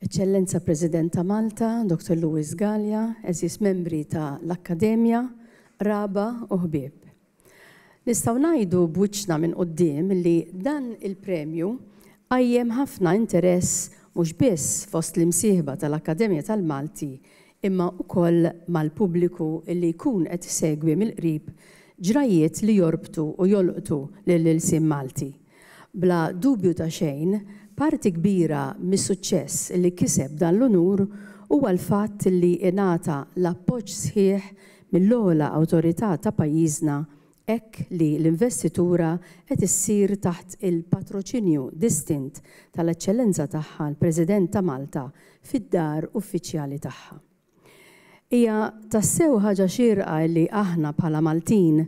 Eċċellenza President ta' Malta, Dottor Louis Galea, għeżież membri ta' l-Akkademja, qraba u ħbieb. Nistgħu ngħidu b'wiċċna minn quddiem li dan il-premju qajjem ħafna interess mhux biss fost l-imsieħba ta' l-Akkademja tal-Malti imma ukoll mal-pubbliku li jkun qed isegwi mill-qrib ġrajjiet li jorbtu u jolqtu lill-ilsien Malti. Bla dubju ta' xejn, parti kbira mis-suċċess li kiseb dan l-unur huwa l-fatt li ingħata l-appoġġ sħiħ mill-ogħla awtorità ta' pajjiżna hekk li l-investitura qed issir taħt il-patroċinju distint tal-Eċċellenza Tagħha l-President ta' Malta fid-Dar Uffiċjali tagħha. Hija tassew ħaġa xierqa li aħna bħala Maltin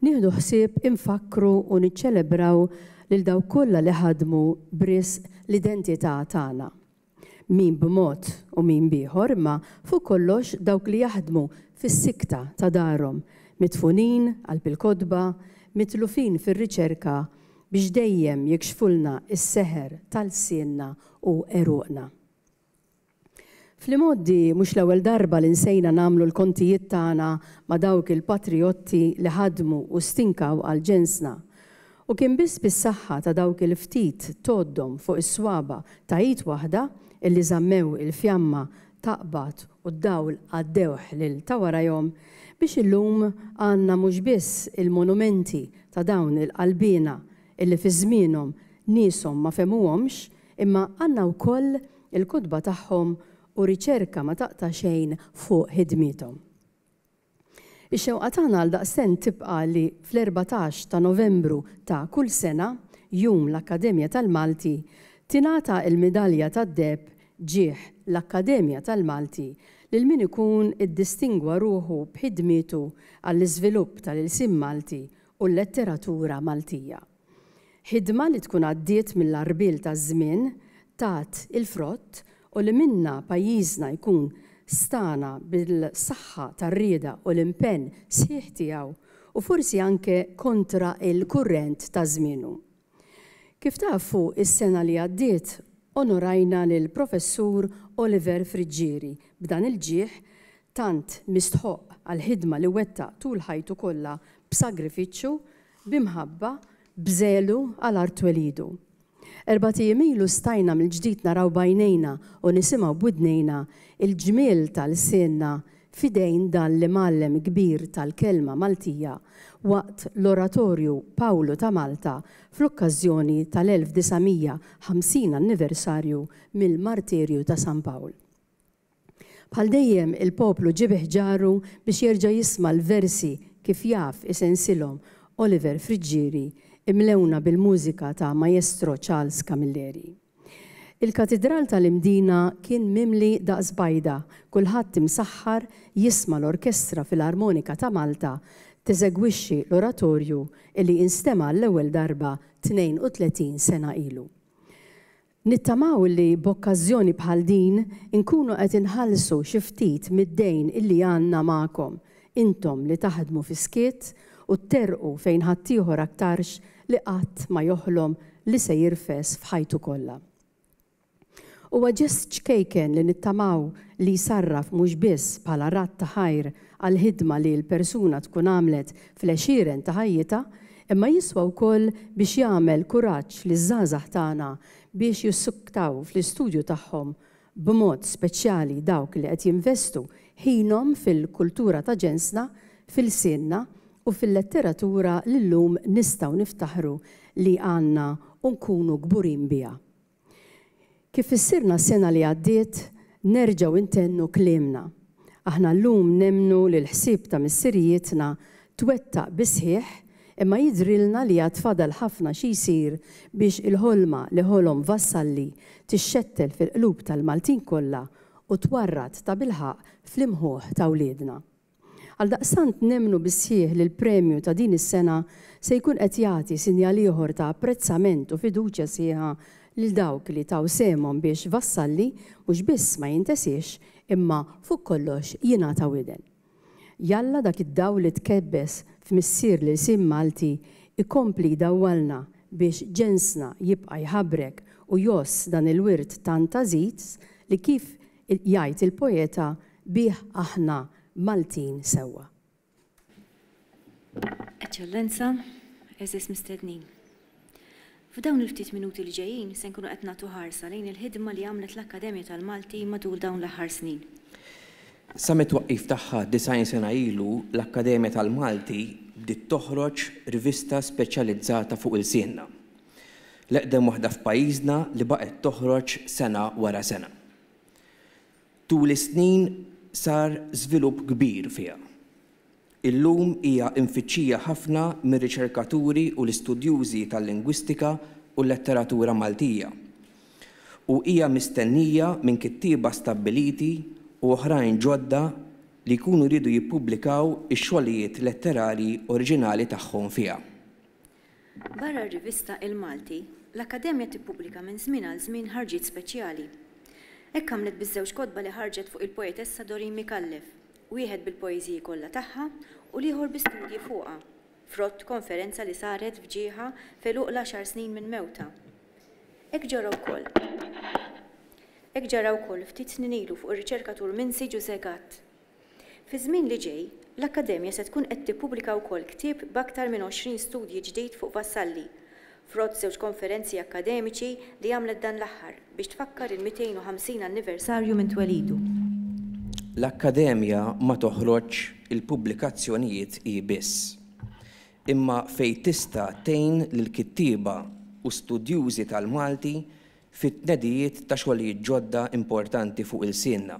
nieħdu ħsieb infakkru u niċċelebraw lil dawk kollha li ħadmu b'risq l-identità tagħna. Min b'mod u min b'ieħor imma fuq kollox dawk li jaħdmu fis-sikta ta' darhom, midfunin qalb il-kotba, mitlufin fir-riċerka biex dejjem jikxfulna s-seħer ta' lsienna u għeruqna. Fl-imgħoddi mhux l-ewwel darba li nsejna nagħmlu l-kontijiet tagħna ma' dawk il-patrijotti li ħadmu u stinkaw għal ġensna. U kien biss bis-saħħa ta' dawk il-ftit tgħoddhom fuq is-swaba' ta' id waħda illi żammew il-fjamma taqbad u d-dawl għaddewh lil ta' warajhom biex illum għandna mhux biss il-monumenti ta' dawn il-qalbiena illi fi żmienhom nieshom ma fehmuhomx Imma għandna wkoll il-kotba tagħhom u riċerka ma taqta' xejn fuq ħidmiethom. Ix-xewqa tagħna għaldaqstent tibqa' li fl-erbatax ta' Novembru ta' kull sena, Jum l-Akkademja tal-Malti, tingħata l-midalja tad-deheb Ġieħ l-Akkademja tal-Malti lil min ikun iddistingwa ruħu b'ħidmietu għall-iżvilupp tal-ilsien Malti u l-letteratura Maltija. Ħidma li tkun għaddiet mill-għarbiel taż-żmien tat il-frott u li minnha pajjiżna jkun stagħna bil-saħħa tar-rieda u l-impenn sħiħ tiegħu u forsi anke kontra l-kurrent ta' żmienu. Kif tafu, is-sena li għaddiet onorajna lill-Professur Oliver Friggieri b'dan il-ġieħ tant mistħoqq għall-ħidma li wettaq tul ħajtu kollha b'sagrifiċċju b'imħabba, b'żelu għal art twelidu. Erbat ijiem ilu stajna mill-ġdid naraw b'għajnejna u nisimgħu b'widnejna l-ġmiel ta' lsienna f'idejn dan l-imgħallem kbir tal-kelma Maltija waqt l-Oratorju Pawlu ta' Malta fl-okkażjoni tal-1950 anniversarju mill-martirju ta' San Pawl. Bħal dejjem il-poplu ġie bi ħġaru biex jerġa' jisma' l-versi kif jaf isensihom Oliver Friggieri imlewna bil-mużika ta' Maestro Charles Camilleri. Il-Katidral tal-Imdina kien mimli daqs bajda, kulħadd imsaħħar jisma' l-Orkestra Filarmonika ta' Malta teżegwixxi l-oratorju li instema' għall-ewwel darba 32 sena ilu. Nittamaw li b'okkażjoni bħal din inkunu qed inħallsu xi ftit mid-dejn illi għandna magħkom, intom li taħdmu fis-skiet u tterrqu fejn ħaddieħor aktarx li qatt ma joħlom li se jirfes f'ħajtu kollha. Huwa ġest ċkejken li nittamaw li jsarraf mhux biss bħala radd ta' ħajr għall-ħidma li l-persuna tkun għamlet fl-għexieren ta' ħajjitha, imma jiswa wkoll biex jagħmel kuraġġ liż-żgħażagħ tagħna biex jissuktaw fl-istudju tagħhom, b'mod speċjali dawk li qed jinvestu ħinhom fil-kultura ta' ġensna, f'ilsienna u fil-letteratura li llum nistgħu niftaħru li għandna u nkunu kburin biha. Kif fissirna s-sena li għaddiet, nerġgħu ntennu kliemna. Aħna llum nemmnu li l-ħsieb ta' missirijietna twettaq bis-sħiħ imma jidhrilna li għad fadal ħafna xi jsir biex il-ħolma li ħolom Vassalli tixxettel fil-qlub tal-Maltin kollha u twarrad tabilħaqq fl-imħuħ ta' wliedna. Għaldaqstant nemmnu bis-sħiħ li l-premju ta' din is-sena se jkun qed jagħti sinjal ieħor ta' apprezzament u fiduċja sħiħa lil dawk li taw sehemhom biex Vassalli mhux biss ma jintesiex imma fuq kollox jingħata widen. Jalla dak id-dawl li tkebbes f'missier l-ilsien Malti jkompli jdawwalna biex ġensna jibqa' jħabbrek u jgħożż dan il-wirt tant għażiż li kif Jgħid il-poeta bih aħna Maltin sewwa. Eċċellenza, għeżież mistednin. F'dawn il-ftit minuti li ġejjin se nkunu qed nagħtu ħarsa lejn il-ħidma li għamlet l-Akkademja tal-Malti matul dawn l-aħħar snin. Sa mit-twaqqif tagħha 90 sena ilu, l-Akkademja tal-Malti bdiet toħroġ rivista speċjalizzata fuq ilsienna. L-eqdem waħda f'pajjiżna li baqgħet toħroġ sena wara sena. Tul is-snin sar żvilupp kbir fiha. Illum hija imfittxija ħafna mir-riċerkaturi u l-istudjużi tal-lingwistika u l-letteratura Maltija u hija mistennija minn kittieba stabbiliti u oħrajn ġodda li jkunu riedu jippubblikaw ix-xogħlijiet letterarji oriġinali tagħhom fiha. Barra r-rivista Il-Malti, l-Akkademja tippubblika minn żmien għal żmien ħarġiet speċjali. Hekk għamlet biż-żewġ kotba li ħarġet fuq il-poetessa Doreen Micallef, wieħed bil-poeżiji kollha tagħha u l-ieħor bi studji fuqha, frott konferenza li saret f'ġieħha f'għeluq l-għaxar snin minn mewtha. Hekk ġara wkoll Hekk ġara wkoll ftit snin ilu fuq ir-riċerkatur Minsi Ġużè Gatt. Fiż-żmien li ġej, l-Akkademja se tkun qed tippubblika wkoll ktieb b'aktar minn 20 studji ġdid fuq Vassalli, frott żewġ konferenzi akkademiċi li għamlet dan l-aħħar biex tfakkar il-250 anniversarju minn twelidu. L-Akkademja ma toħroġx il-pubblikazzjonijiet hi biss, imma fejn tista' tgħin lill-kittieba u studjużi tal-Malti fit-tnedijiet ta' xogħlijiet ġodda importanti fuq ilsienna.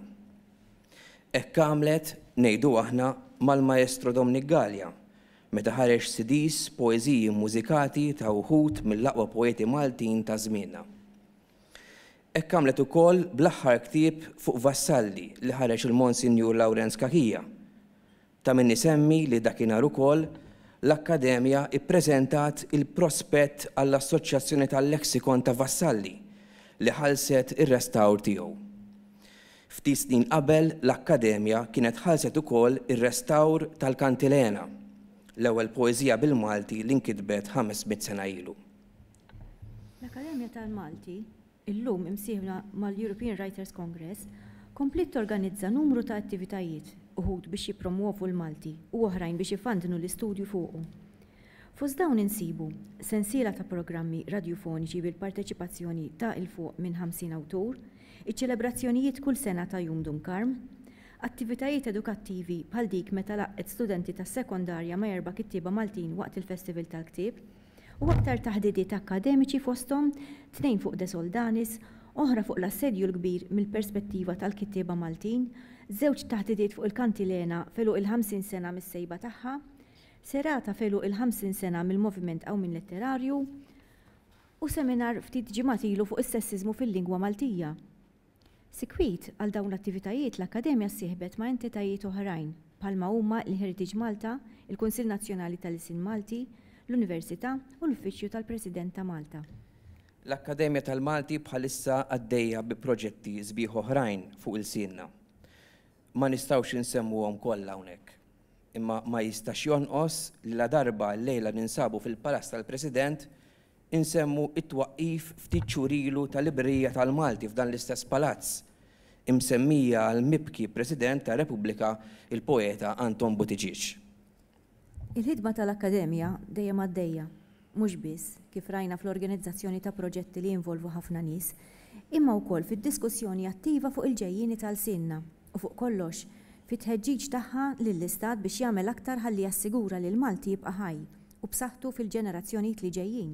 Hekk għamlet, ngħidu aħna, mal-Maestro Domnic Galea, meta ħareġ CDs b'poeżiji mmużikati ta' wħud mill-aqwa poeti Maltin ta' żmienna. Hekk għamlet ukoll bl-aħħar ktieb fuq Vassalli li ħareġ il-Monsinjur Lawrenz Cachia. Ta' min isemmi li dakinhar ukoll l-Akkademja ppreżentat il-prospett għall-Assoċjazzjoni tal-Lexicon ta' Vassalli li ħallset ir-restawr tiegħu. Ftit snin qabel l-Akkademja kienet ħallset ukoll ir-restawr tal-Kantilena, l-ewwel poeżija bil-Malti li nkitbet ħames mitt sena ilu. L-Akkademja tal-Malti illum imsieħba mal-European Writers Congress, kompliet torganizza numru ta' attivitajiet, uħud biex jippromwovu l-Malti u oħrajn biex ifandnu l-istudju fuqu. Fost dawn insibu, sensiela ta' programmi radjufoniċi bil-parteċipazzjoni ta' 'il fuq minn 50 awtur, iċ-ċelebrazzjonijiet kull sena ta' Jum Dun Karm, attivitajiet edukattivi bħal dik meta laqgħet studenti tas-sekondarja ma' erba' kittieba Maltin waqt il-Festival tal-Ktieb, u aktar taħdidiet akkademiċi fosthom tnejn fuq De Soldanis, oħra fuq l-Assedju l-Kbir mill-perspettiva tal-kittieba Maltin, żewġ taħdidiet fuq il-Kantilena f'għeluq il-ħamsin sena mis-sejba tagħha, serata f'għeluq il-ħamsin sena mill-Moviment Qawmien Letterarju, u seminar ftit ġimgħat ilu fuq is-sessiżmu fil-lingwa Maltija. Sikwit għal dawn l-attivitajiet l-Akkademja ssieħbet ma' entitajiet oħrajn bħalma huma l-Heritage Malta, il-Kunsill Nazzjonali tal-Ilsien Malti, l-Università u l-Uffiċċju tal-President ta' Malta. L-Akkademja tal-Malti bħalissa għaddejja bi proġetti sbieħ oħrajn fuq ilsienna. Ma nistgħux insemmuhom kollha hawnhekk. Imma ma jistax jonqos li ladarba llejla ninsabu fil-Palazz tal-President Insemmu t-twaqqif ftit xhur ilu tal-Librerija tal-Malti f'dan l-istess palazz, imsemmija għall-mibki President tar-Repubblika, il-poeta Anton Buttigieg. Il-ħidma tal-Akkademja dejjem għaddejja, mhux biss, kif rajna fl-organizzazzjoni ta' proġetti li jinvolvu ħafna nies, imma wkoll fid-diskussjoni attiva fuq il-ġejjieni ta' lsienna u fuq kollox, fit-tħeġġiġ tagħha lill-Istat biex jagħmel aktar ħalli jassigura li l-Malti jibqa' ħaj u b'saħħtu fil-ġenerazzjonijiet li ġejjin.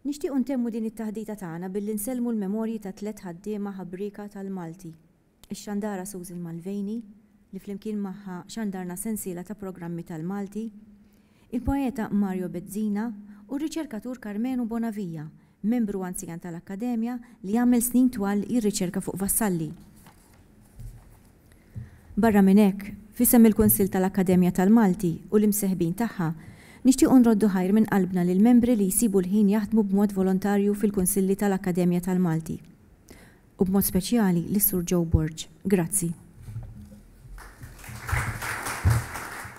Nixtiequ ntemmu din it-taħdita tagħna billi nsellmu l-memorji ta' tliet ħaddiema ħabrieka tal-Malti, ix-xandara Susan Mulvaney, li flimkien magħha xandarna sensiela ta' programmi tal-Malti, il-poeta Mario Bezzina u r-riċerkatur Karmenu Bonavia, membru anzjan tal-Akkademja li għamel snin twal jirriċerka fuq Vassalli. Barra minn hekk, f'isem il-Kunsill tal-Akkademja tal-Malti u l-imseħbin tagħha, nixtiequ nroddu ħajr minn qalbna lill-membri li jsibu l-ħin jaħdmu b'mod volontarju fil-Kunsilli tal-Akkademja tal-Malti, u b'mod speċjali lis-Sur Joe Borg. Grazzi.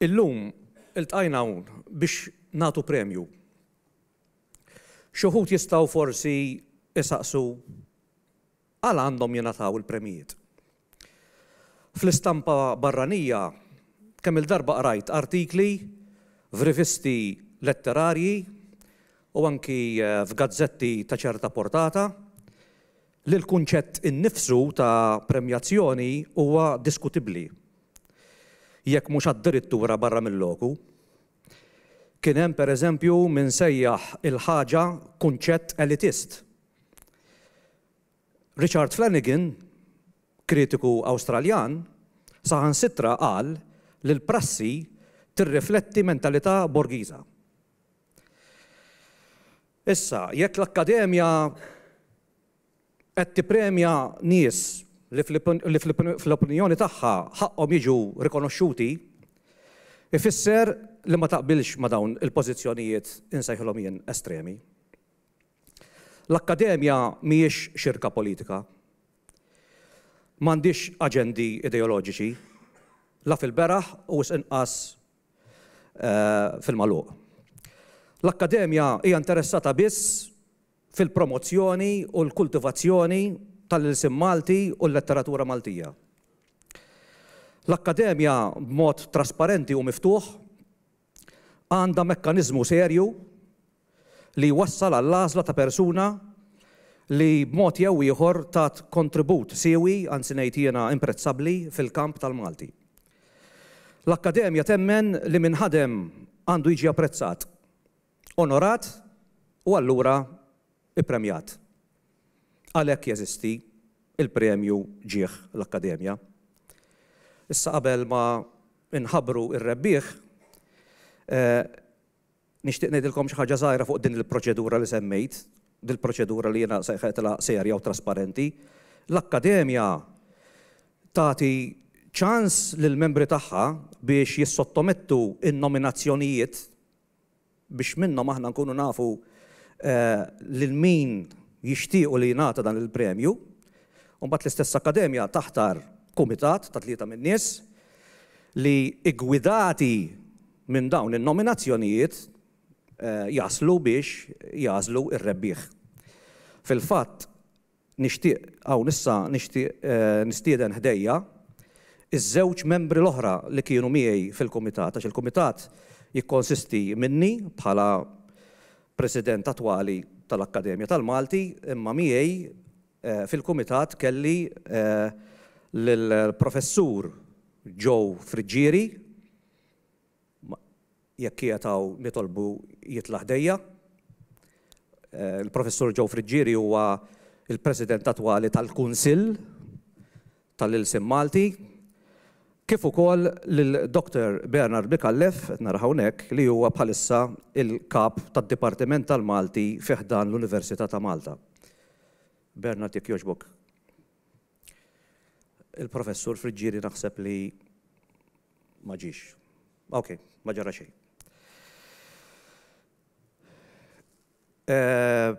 Illum iltqajna hawn biex nagħtu premju. Xi wħud jistgħu forsi jsaqsu għala għandhom jingħataw il-premjijiet. Fl-istampa barranija kemm-il darba qrajt artikli f'rivisti letterarji u anki f'gazzetti ta' ċerta portata li l-kunċett innifsu ta' premjazzjoni huwa diskutibbli, jekk mhux addirittura barra mil-loku. Kien hemm, per eżempju, min sejjaħ il-ħaġa kunċett elitist. Richard Flanagan, kritiku Awstraljan, saħansitra qal li l-prassi tirrifletti mentalità Borgiża. Issa, jekk l-Akkademja qed tippremja nies li fl-opinjoni tagħha ħaqqhom jiġu rikonoxxuti, ifisser li ma taqbilx ma' dawn il-pożizzjonijiet insejħilhom jien estremi. L-Akkademja mhijiex xirka politika. M'għandhiex aġendi ideoloġiċi, la fil-beraħ u wisq inqas fil-magħluq. L-Akkademja hija interessata biss fil-promozzjoni u l-kultivazzjoni tal-ilsien Malti u l-letteratura Maltija. L-Akkademja b'mod trasparenti u miftuħ għandha mekkaniżmu serju li wassal għall-għażla ta' persuna li b'mod jew ieħor tat kontribut siewi, anzi ngħid jiena imprezzabbli, fil-kamp tal-Malti. L-Akkademja temmen li min ħadem għandu jiġi apprezzat, onorat u allura ippremjat. Għalhekk jeżisti l-Premju Ġieħ l-Akkademja. Issa qabel ma nħabbru r-rebbieħ, Nixtieq ngħidilkom xi ħaġa żgħira fuq din il-proċedura li semmejt, dil-proċedura li jiena sejħejtilha serja u trasparenti. L-Akkademja tagħti ċans lill-membri tagħha biex jissottomettu n-nominazzjonijiet biex minnhom aħna nkunu nafu lil min jixtiequ li jingħata dan il-premju. Imbagħad l-istess Akkademja taħtar kumitat ta' tlieta min-nies li, iggwidati Minn dawn in-nominazzjonijiet jaslu biex jagħżlu r-rebbieħ. Fil-fatt, nixtieq hawn issa nixtieq nistieden ħdejja ż-żewġ membri l-oħra li kienu miegħi fil-kumitat għax il-kumitat jikkonsisti minni bħala President attwali tal-Akkademja tal-Malti imma miegħi fil-kumitat kelli lill-Professur Joe Friggieri, Jekk qiegħed hawn nitolbu jitla' ħdejja. Il-Professur Joe Friggieri huwa l-President attwali tal-Kunsill tal-Ilsien Malti, kif ukoll lil Dr. Bernard Micallef, qed nara hawnhekk, li huwa bħalissa l-Kap tad-Dipartiment tal-Malti fi ħdan l-Università ta' Malta. Bernard jekk jogħġbok. Il-Professur Friggieri naħseb li ma ġiex. Ok, ma ġara xejn. Eh,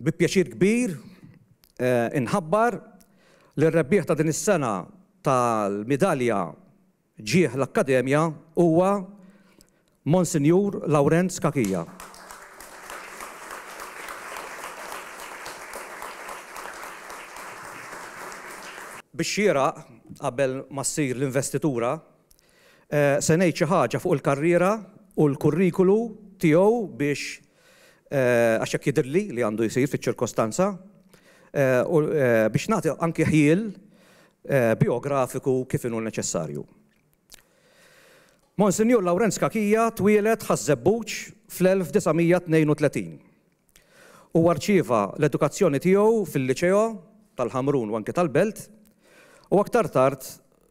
bi pjaċir kbir eh, inħabbar li r-rebbieħ ta' din is-sena tal-midalja ġie l-Akkademja huwa Monsinjur Lawrenz Cachia. Bix-xieraq, qabel ma ssir l-investitura, se ngħid xi ħaġa fuq il-karriera u l-kurrikulu tiegħu biex għax hekk jidhirli li għandu jsir fiċ-ċirkostanza, u biex nagħti anki ħjiel bijografiku kif inhu neċessarju. Monsinjur Lawrenz Cachia twieled Ħaż-Żebbuġ fl-1932. Huwa rċieva l-edukazzjoni tiegħu fil-Liceo tal-Ħamrun u anki tal-Belt u aktar tard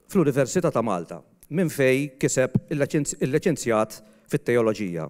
fl-Università ta' Malta, minn fejn kiseb il-Liċenzjat fit-Teoloġija.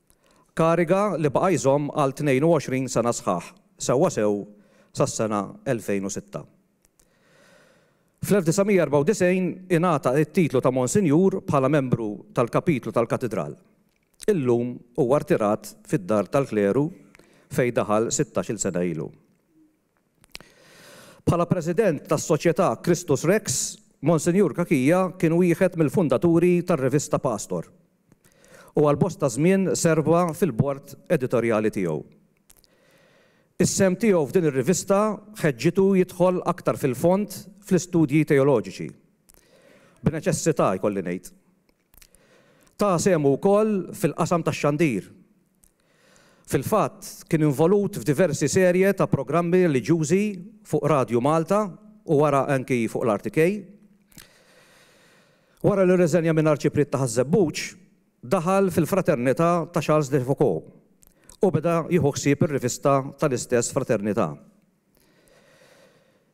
Kariga li baqa' jżomm għal 22 sena sħaħ, sewwasew sas-sena 2006. Fl-1994 ingħata t-titlu ta' Monsinjur bħala membru tal-Kapitlu tal-Katidral. Illum huwa rtirat fid-Dar tal-Kleru fejn daħal sittax-il sena ilu. Bħala President tas-Soċjetà Christus Rex, Monsinjur Cachia kien wieħed mill-fundaturi tar-rivista Pastor, u għal bosta żmien serva fil-bord editorjali tiegħu. Is-sehem tiegħu f'din ir-rivista ħeġġitu jidħol aktar fil-fond fl-istudji teoloġiċi. B'neċessità, jkolli ngħid. Ta sehmu wkoll fil-qasam tax-xandir. Fil-fatt, kien involut f'diversi serje ta' programmi reliġjużi fuq Radju Malta u wara anki fuq l-RTK. Wara li rriżenja minn Arċipriet ta' Ħaż-Żebbuġ, daħal fil-Fraternità ta' Charles de Foucauld u beda jieħu ħsieb ir-rivista tal-istess fraternità.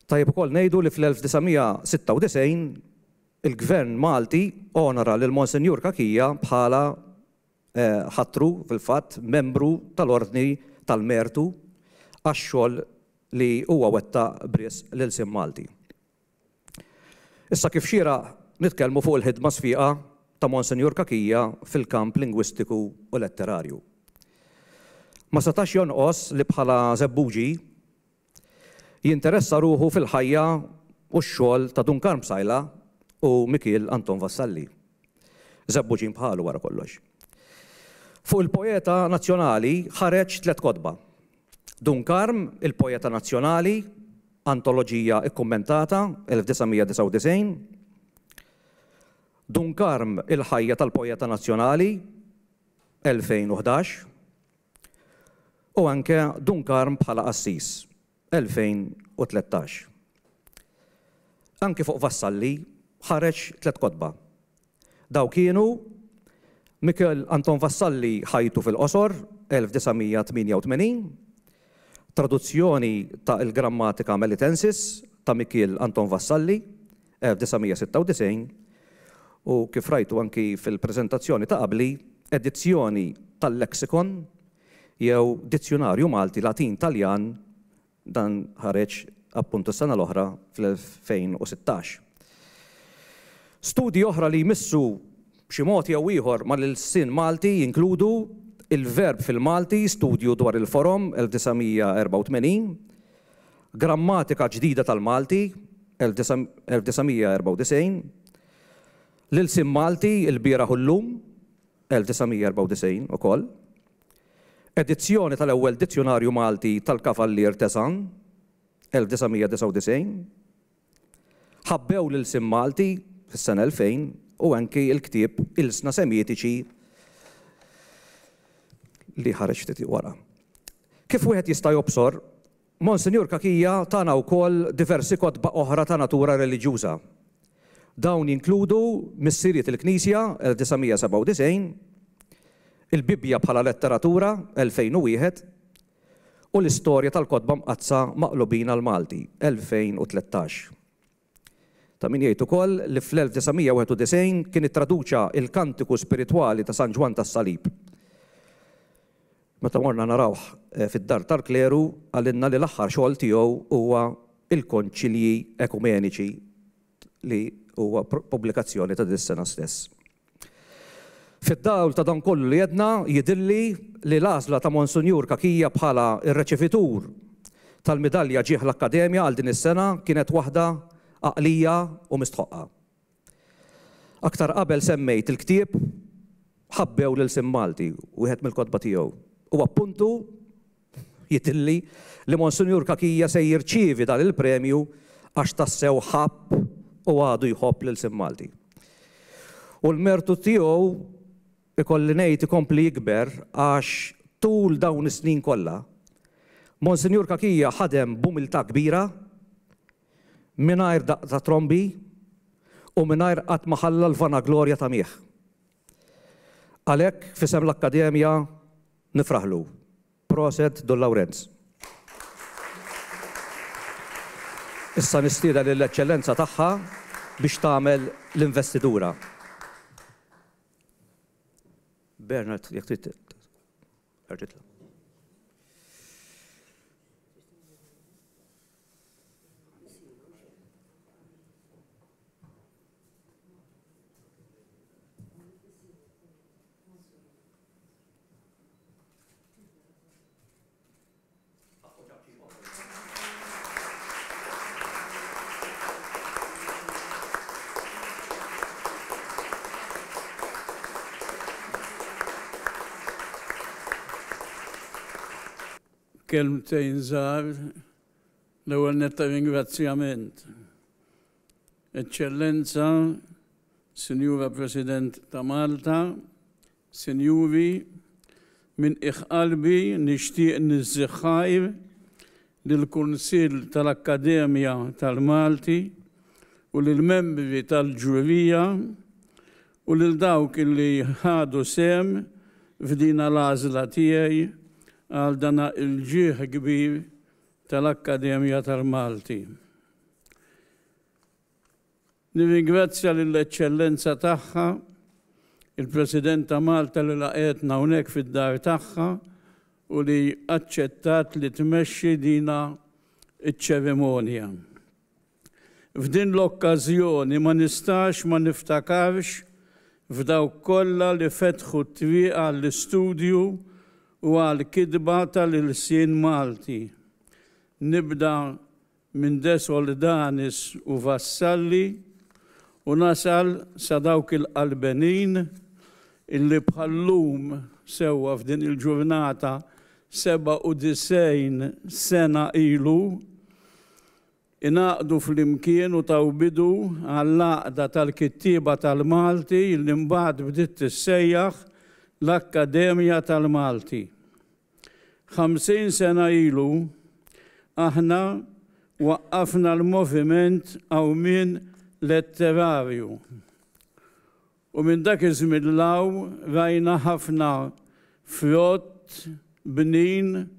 Tajjeb ukoll ngħidu li fl-1996, Il-Gvern Malti onora lil Monsinjur Cachia bħala ħatru fil-fatt membru tal-Ordni tal-Mertu għax-xogħol li huwa wettaq b'risq l-ilsien Malti. Issa kif xieraq nitkellmu fuq il-ħidma sfiqa ta' Monsinjur Cachia fil-kamp lingwistiku u letterarju. Ma setax jonqos li bħala Żebbuġi Jinteressa ruħu fil-ħajja u x-xogħol ta' Dun Karm Psaila u Mikiel Anton Vassalli. Żebbuġin bħalu wara kollox. Fuq il-poeta nazzjonali ħareġ tliet kotba. Dun Karm, il-poeta nazzjonali, antoloġija kkummentata, 1999. Dun Karm, il-ħajja tal-poeta nazzjonali, 2011. u anke Dun Karm bħala qassis, 2013. Anke fuq Vassalli ħareġ tliet kotba. Dawk kienu Michel Anton Vassalli Ħajtu fil-qosor, 1988, Traduzzjoni ta' Il-Grammatica Melitensis ta' Michel Anton Vassalli, 1996, u kif rajtu anki fil-preżentazzjoni ta' qabli, edizzjoni tal-Lexicon jew Dizzjunarju Malti Latin-Taljan, dan ħareġ appunt is-sena l-oħra fl-2016. Studji oħra li jmissu b'xi mod jew ieħor mal-ilsien Malti jinkludu Il-Verb fil-Malti, Studju dwar il-Forom, 1984, Grammatika Ġdida tal-Malti, 1994, L-Ilsien Malti, Il-Bieraħ u Llum, 1994, ukoll, Edizzjoni tal-Ewwel Dizzjunarju Malti tal-Kavallier Tesan, 1999, Ħabbew l-Ilsien Malti, fis-sena 2000, u anki l-ktieb Ilsna Semitiċi li ħareġ ftit wara. Kif wieħed jista' jobsor, Monsinjur Cachia tana wkoll diversi kotba oħra ta' natura reliġjuża. Dawn jinkludu Missirijiet il-Knisja, 1997, Il-Bibbja bħala Letteratura, 2001, u L-Istorja tal-Kotba Mqaddsa Maqlubin għall-Malti, 2013. Ta' min jgħid ukoll li fl-1991 kien ittraduċa il-Kantiku Spiritwali ta' San Ġwann tas-Salib. Meta morna narawh fid-Dar tal-Kleru qalilna li l-aħħar xogħol tiegħu huwa Il-Konċilji Ekumeniċi li huwa pubblikazzjoni ta' din is-sena stess. Fid-dawl ta' dan kollu li għedna, jidhirli li l-għażla ta' Monsinjur Cachia bħala r-reċevitur tal-Midalja Ġieħ l-Akkademja għal din is-sena kienet waħda għaqlija u mistħoqqa. Aktar qabel semmejt il-ktieb Ħabbew lil Sim Malti, wieħed mill-kotba tiegħu, u appuntu, Jidhirli li Monsinjur Cachia se jirċievi dan il-premju għax tassew ħabb u għadu jħobb l-ilsien Malti. U l-mertu tiegħu ikolli ngħid ikompli jikber għax tul dawn is-snin kollha, Monsinjur Cachia ħadem b'umiltà kbira, mingħajr daqq ta' trombi u mingħajr qatt ma ħalla l-vanaglorja tagħmih. Għalhekk, f'isem l-Akkademja, nifraħlu. Proset Dun Lawrenz. Issa nistieden lill-Eċċellenza Tagħha biex tagħmel l-investidura. Bernard, jekk trid terġa' titla'. kelmtejn żgħar l-ewwel netta ringrazzjament. Eċċellenza, Sinjura President ta' Malta, Sinjuri, minn qiegħ qalbi nixtieq niżżigħ ħajr lill-Kunsill tal-Akkademja tal-Malti u lill-membri tal-ġurija u lil dawk li ħadu sehem f'dina l-għażla tiegħi għal dana l-ġieħ kbir tal-Akkademja tal-Malti. Nirringrazzja lill-Eċċellenza tagħha, il-President ta' Malta li laqgħetna hawnhekk fid-dar tagħha u li aċċettat li tmexxi dina ċ-ċerimonja. F'din l-okkażjoni ma nistax ma niftakarx f'dawk kollha li fetħu t-triq għall-istudju u għall-kitba tal-ilsien Malti. Nibda minn De Soldanis u Vassalli u nasal sa dawk il-Qalbenin illi bħal-lum sewwa f'din il-ġurnata 97 sena ilu ingħaqdu flimkien u taw bidu għall-Għaqda tal-Kittieba tal-Malti illi mbagħad bdiet tissejjaħ l-Akkademja tal-Malti. Ħamsin sena ilu, aħna waqqafna l-moviment Qawmien Letterarju. U minn dak iż-żmien 'l hawn rajna ħafna frott bnin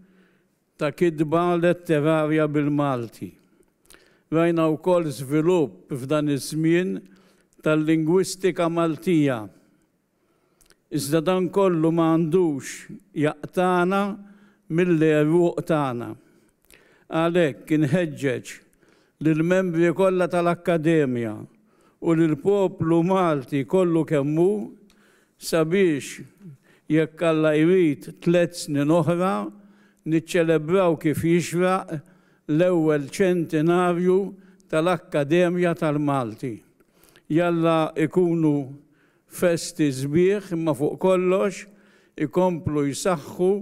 ta' kitba letterarja bil-Malti. Rajna wkoll żvilupp f'dan iż-żmien tal-lingwistika Maltija. Iżda dan kollu ma għandux jaqtagħna mill-għeruq tagħna. Għalhekk inħeġġeġ lill-membri kollha tal-Akkademja u lill-poplu Malti kollu kemm hu sabiex, jekk Alla jrid, tliet snin oħra niċċelebraw kif jixraq l-ewwel ċentinarju tal-Akkademja tal-Malti. Jalla ikunu Festi sbieħ imma fuq kollox ikomplu jsaħħu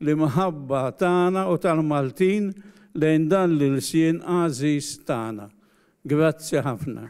l-imħabba tagħna u tal-Maltin lejn dan l-ilsien għażiż tagħna. Grazzi ħafna.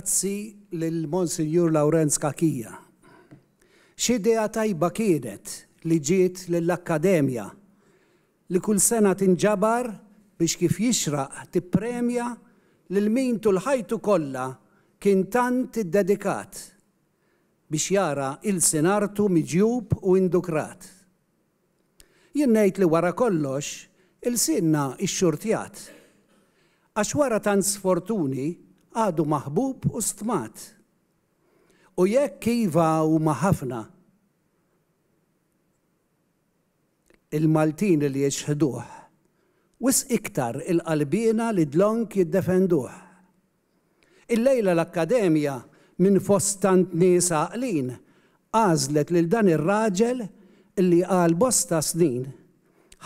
Grazzi lil Monsinjur Lawrenz Cachia. X'idea tajba kienet li ġiet lill-Akkademja li kull sena tinġabar biex kif jixraq tippremja lil min tul ħajtu kollha kien tant iddedikat biex jara ilsien artu miġjub u indukrat. Jien ngħid li wara kollox ilsienna xxurtjat. Għax wara tant sfortuni għadu maħbub u stmat. U jekk iva huma ħafna il-Maltin li jixħduh, wisq iktar il-qalbiena li dlonk jiddefenduh. Illejla l-Akkademja, minn fost tant nies għaqlin, għażlet lil dan ir-raġel li għal bosta snin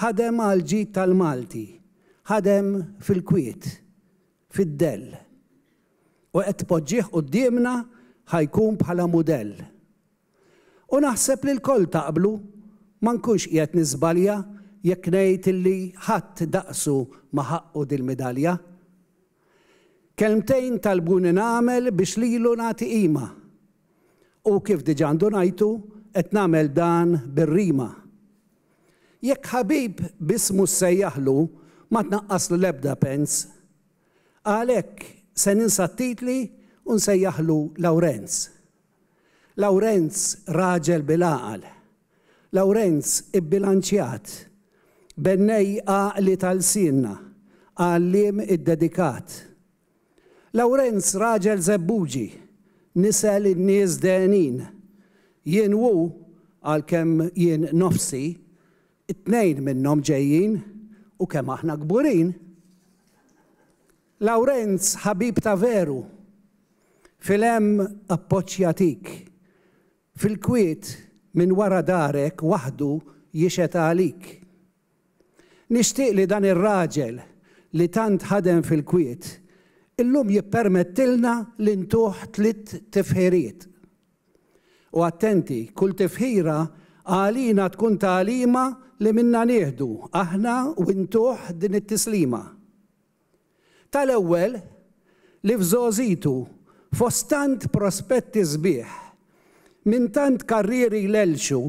ħadem għall-ġid tal-Malti, ħadem fil-kwiet, fid-dell. U qed tpoġġih quddiemna ħa jkun bħala mudell. U naħseb li lkoll taqblu, ma nkunx qiegħed niżbalja jekk ngħid li ħadd daqsu ma ħaqqu dil-midalja. Kelmtejn talbuni nagħmel biex lilu nagħti qima. U kif diġà ndunajtu, qed nagħmel dan bir-rima. Jekk ħabib b'ismu ssejjaħlu, ma tnaqqaslu l-ebda pens. Għalhekk se ninsa t-titli u nsejjaħlu Lawrenz. Lawrenz raġel bil-għaqal. Lawrenz ibbilanċjat. Bennej għaqli ta' lsienna. Għalliem iddedikat. Lawrenz raġel żebbuġi. Nisel in-nies dehnin. Jien u hu, għalkemm jien nofsi, it-tnejn minnhom ġejjin, u kemm aħna kburin! Lawrenz ħabib ta' veru. Fil-hemm appoġġ jagħtik. Fil-kwiet minn wara darek waħdu jixhed għalik. Nixtieq li dan ir-raġel li tant ħadem fil-kwiet illum jippermettilna li ntuh tliet tifħiriet. U attenti, kull tifħira għalina tkun tagħlima li minnha nieħdu aħna u ntuh din it-tislima. Tal-ewwel, li f'żgħożitu, fost tant prospetti sbieħ, minn tant karrieri jlellxu,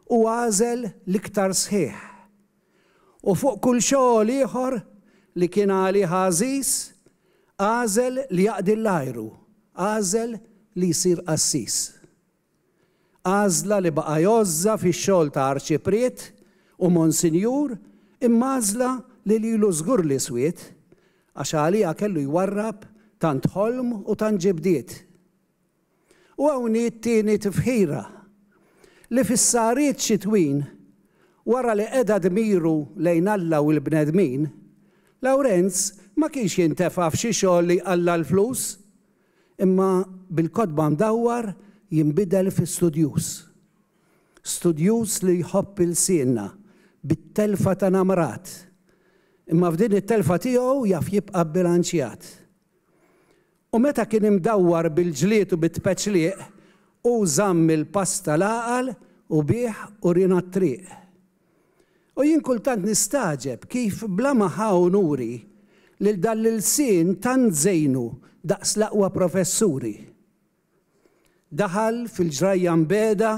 hu għażel l-iktar sħiħ. U fuq kull xogħol ieħor li kien għalih għażiż, għażel li jaqdi l-ajru, għażel li jsir qassis. Għażla li baqa' jgħożżha fix-xogħol ta' Arċipriet u Monsinjur imma għażla li lilu żgur li swiet għax għaliha kellu jwarrab tant ħolm u tant ġibdiet. U hawn hi t-tieni tifħira, li fis-sahriet xitwin, wara li qeda dmiru lejn Alla u l-bnedmin, Lawrenz ma kienx jintefa' f'xi xogħol li jqalla' l-flus, Imma bil-kotba ndawwar jinbidel fi studjuż. Studjuż li jħobb ilsienna bit-telfa ta' namrat, imma f'din it-telfa tiegħu jaf jibqa' bbilanċjat. U meta kien imdawwar bil-ġlied u bit-tpeċliq, hu żamm il-pass tal-għaqal u bih urina t-triq. U jien kultant nistagħġeb kif bla ma ħa unuri lil dan l-ilsien tant żejnu daqs l-aqwa professuri. Daħal fil-ġrajja mbiegħda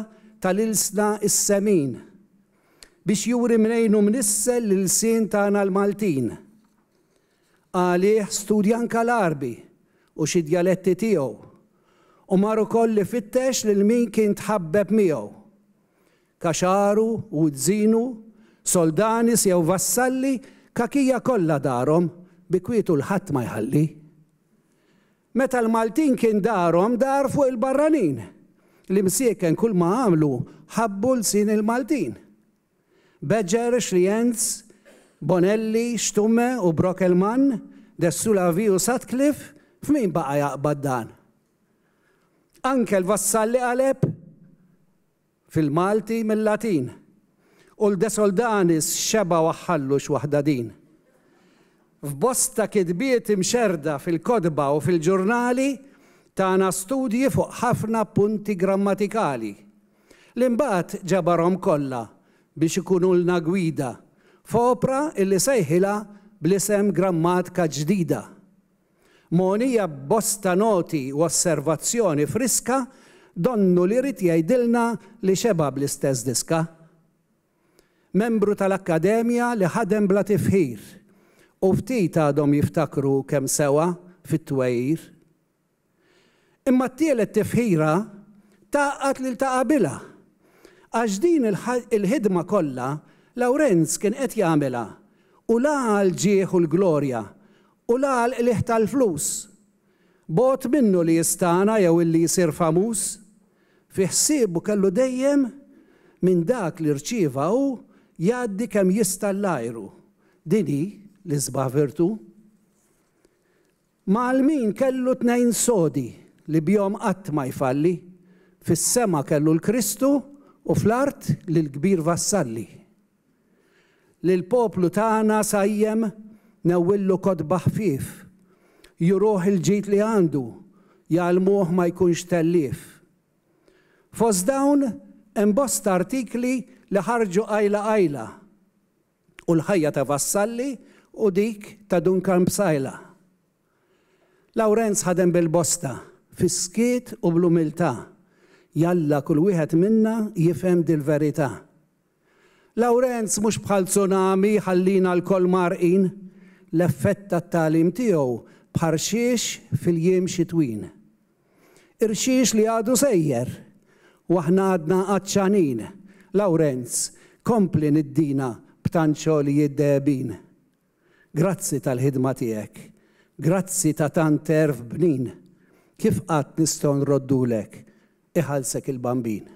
tal-ilsna s-semin biex juri mnejn hu mnissel l-ilsien tagħna l-Maltin. Għalih studja anke l-Għarbi u xi djaletti tiegħu u mar ukoll ifittex lil min kien tħabbeb miegħu. Kaxaru, Wuzzinu, Soldanis jew Vassalli kakija kollha darhom bi kwietu l-ħadd ma jħalli. Meta l-Maltin kien darhom dar fuq il-barranin. L-imsieken kull ma għamlu ħabbu lsien il-Maltin. Badger, Schlienz, Bonelli, Stumme u Brockelmann, Dessulavi u Sutcliffe f'min baqa' jaqbad dan? Anke l-Vassalli qaleb? Fil-Malti mil-Latin. U l-Desoldanis xebgħu għax-xallu x-waħda din. F'bosta kitbiet imxerrda fil-kotba u fil-ġurnali tana studji fuq ħafna punti grammatikali, li mbagħad ġabarhom kollha biex ikunulna gwida f'opra illi sejħilha bl-isem Grammatka Ġdida. Mogħnija b'bosta noti u osservazzjoni friska, donnu li ried jgħidilna li xeba' bl-istess diska. Membru tal-Akkademja li ħadem bla tifħir, u ftit għadhom jiftakru kemm sewa fit-twegħir. Imma t-tielet tifħira tgħaqqad lil ta' qabilha, għax din il-ħidma kollha Lawrenz kien qed jagħmilha u la għall-ġieħ u l-glorja U la għall-qligħ tal-flus. Bogħod minnu li jistagħna jew illi jsir famuż. Fi ħsiebu kellu dejjem minn dak li rċieva hu jgħaddi kemm jista' l-ajru. Din hi l-isbaħ virtù. Ma' Almin kellu tnejn sodi li bihom qatt ma jfalli, fis-sema kellu l-Kristu u fl-art lill-kbir vassalli. Lill-poplu tagħna sajjem ngħewwillu kotba ħfief, juruh il-ġid li għandu, jgħallmuh ma jkunx tellief. Fost dawn hemm bosta artikli li ħarġu qajla qajla u l-ħajja ta' Vassalli u dik ta' Dun Karm Psaila. Lawrenz ħadem bil-bosta, fis-skiet u bl-umiltà. Jalla kull wieħed minna jifhem dil-verità. Lawrenz mhux bħal tsunami jħallina lkoll mgħarrqin, l-effett tat-tagħlim tiegħu bħarxiex fil-jiem xitwin. Irxiex li għadu sejjer u aħna għadna għatxanin, Lawrenz, kompli niddina b'tant xogħlijiet dehebin. Grazzi tal-ħidma tiegħek. Grazzi ta' tant għerf bnin. Kif qatt nistgħu nroddulek, iħallsek il-Bambin.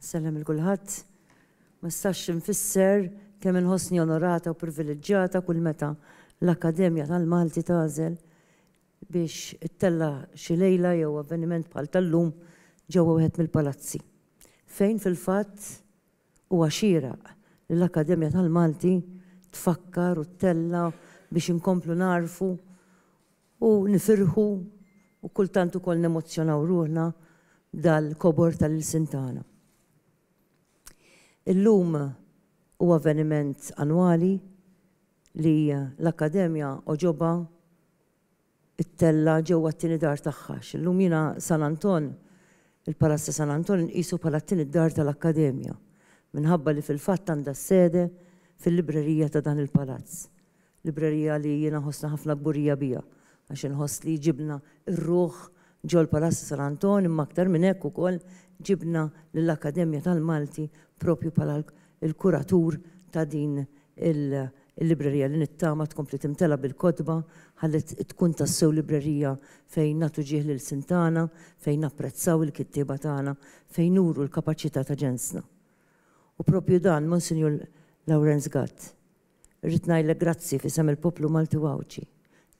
Sellem lil kulħadd. Ma nistax infisser kemm inħossni onorata u priviliġġjata kull meta l-Akkademja tal-Malti tagħżel biex ittella' xi lejla jew avveniment bħal tal-lum ġewwa wieħed mill-palazzi, fejn fil-fatt huwa xieraq li l-Akkademja tal-Malti tfakkar u ttella' biex inkomplu nagħrfu U nifirħu u kultant ukoll nemozzjonaw ruħna b'dal-kobor tal-ilsien tagħna. Illum hu avveniment annwali li l-Akkademja għoġobha ttella' ġewwa t-tieni dar tagħha għax illum jiena San Anton, il-Palazz ta' San Anton inqisu bħala t-tieni dar tal-Akkademja minħabba li fil-fatt għandha s-sede fil-librerija ta' dan il-palazz. Librerija li jiena nħossni ħafna kburija biha għax inħoss li ġibna r-ruħ ġol-Palazz San Anton imma aktar minn hekk ukoll ġibna lill-Akkademja tal-Malti proprju bħala l-kuratur ta' din il-librerija li nittama tkompli timtela' bil-kotba ħalli tkun tassew librerija fejn nagħtu ġieħ l-ilsien tagħna, fejn napprezzaw il-kittieba tagħna, fejn nuru l-kapaċità ta' ġensna. U proprju dan Monsinjur Lawrenz Gatt Irrid ngħidlek grazzi f'isem il-poplu Malti u Għawdxi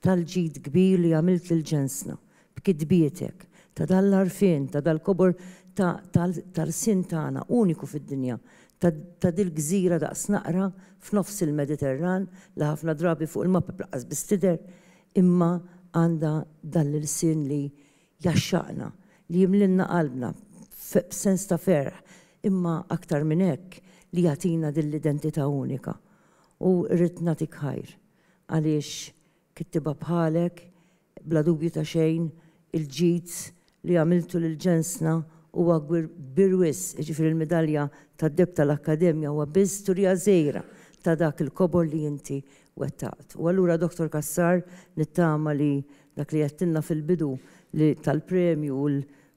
tal-ġid kbir li għamilt lil ġensna b'kitbietek, ta' dan l-għarfien, ta' dal-kobor ta' tal-ħarsien tagħna uniku fid-dinja, ta' dil-gżira daqs naqra f'nofs il-Mediterran li ħafna drabi fuq il-mapep laqqas biss tidher imma għandha dan l-ilsien li Jgħaxxaqna, li jimlielna qalbna b'sens ta' ferħ, imma aktar minn hekk, li jagħtina din l-identità unika. U rrid nagħtik ħajr, għaliex kittieba bħalek, bla dubju ta' xejn, il-ġid li għamiltu lil ġensna huwa kbir wisq, jiġifieri l-midalja tad-deheb tal-Akkademja huwa biss storija żgħira ta' dak il-kobor li inti wettaqt. U allura Dottor Cassar, nittama li Dak li għedtilna fil-bidu li tal-premju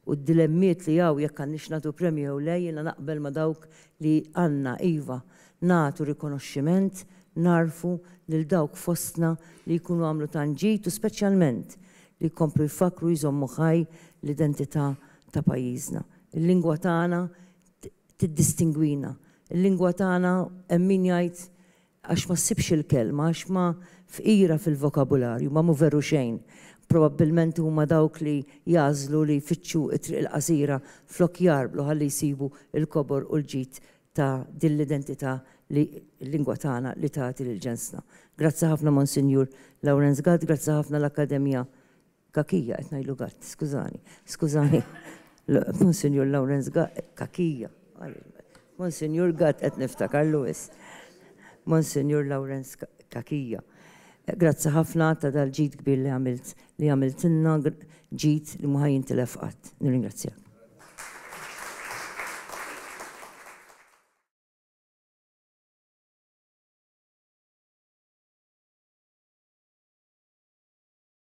u d-dilemmiet li hawn jekk għandniex nagħtu premju jew le, jiena naqbel ma' dawk li għandna, iva, nagħtu rikonoxximent, nagħrfu lil dawk fostna li jkunu għamlu tant ġid u speċjalment li jkomplu jfakkru u jżommu ħaj l-identità ta' pajjiżna. Il-lingwa tagħna tiddistingwina. Il-lingwa tagħna hemm min jgħid Għax ma ssibx il-kelma, għax ma fqira fil-vokabularju, ma mhu veru xejn. Probabbilment huma dawk li jagħżlu li jfittxu t-triq il-qasira flok jgħarblu ħalli jsibu l-kobor u l-ġid ta' din l-identità li l-lingwa tagħna li tagħti lil ġensna. Grazzi ħafna Monsinjur Lawrenz Gatt, grazzi ħafna l-Akkademja Kakija, qed ngħidlu Gatt, skużani. Skużani. Monsinjur Lawrence Gatt, Kakija. Monsinjur Gatt qed niftakar Lewis. Monsinjur Lawrence Kakija. Grazzi ħafna ta' dal-ġid kbir li għamilt li għamiltilna ġid li ma ħajintilef qatt. Nirringrazzjak.